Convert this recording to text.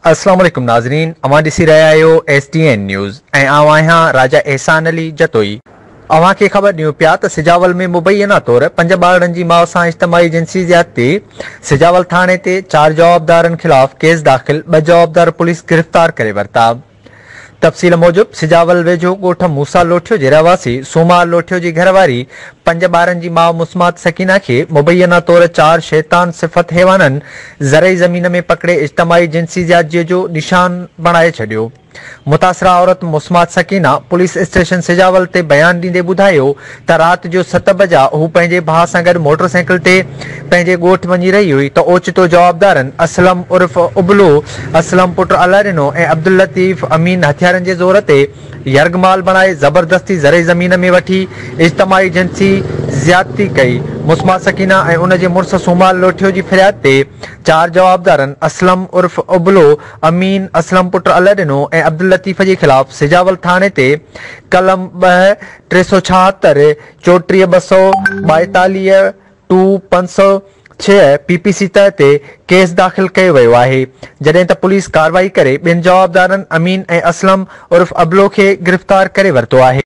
السلام عليڪم ناظرين اوهان ڏسي رهيا آهيو ايس ڊي اين نيوز ۽ آئون آهيان راجا احسان علي جتوئي اوهان کي خبر ڏيون پيا ته سجاول ۾ مبينا طور پنج ٻارڙن جي ماء سان اجتماعي جنسي زيادتي، سجاول ٿاڻي تي چار جوابدارن خلاف ڪيس داخل، ٻه جوابدار پوليس گرفتار ڪري ورتا. تفصيل موجب سجاول ويجهو ڳوٺ موسيٰ لوٺيو جي رهواسي سوماء لوٺيو جي گهر واري پنج ٻارن جي ماء مسمات سڪينه کي مبينا طور چار شيطان صفت حيوانن زرعي زمين ۾ پڪڙي اجتماعي جنسي زيادجي جو نشان بڻائي ڇڏيو. متاثره عورت مسمات سڪينه پوليس اسٽيشن سجاول تي بيان ڏيندي ٻڌايو ته رات جو ست بجا هو پنهنجي ڀاء سان گڏ موٽر سائيڪل تي پنهنجي ڳوٺ وڃي رهي هئي ته اوچتو جوابدارن اسلم عرف ابلو، اسلم پٽ الله ڏنو ۽ عبداللطيف امين هٿيارن جي زور تي يرغمال بڻائي زبردستي زرعي زمين ۾ وٺي اجتماعي جنسي زيادتي ڪئي مسمات سڪينه ۽ ان جي مڙس سومال لوٺيو جي فرياد تي چار جوابدارن اسلم عرف ابلو، امين اسلم پٽ الهه ڏنو ۽ عبداللطيف جي خلاف سجاول ٿاڻي تي قلم ٻه، ٽي سؤ ڇاهتر، چوٽيهه ٻه سؤ ٻائيتاليهه، ٽو پنج سؤ ڇهه پي پي سي تحت تي ڪيس داخل ڪيو ويو آهي، جڏهن ته پوليس ڪارروائي ڪري ٻن جوابدارن امين ۽ اسلم عرف ابلو کي گرفتار ڪري ورتو آهي.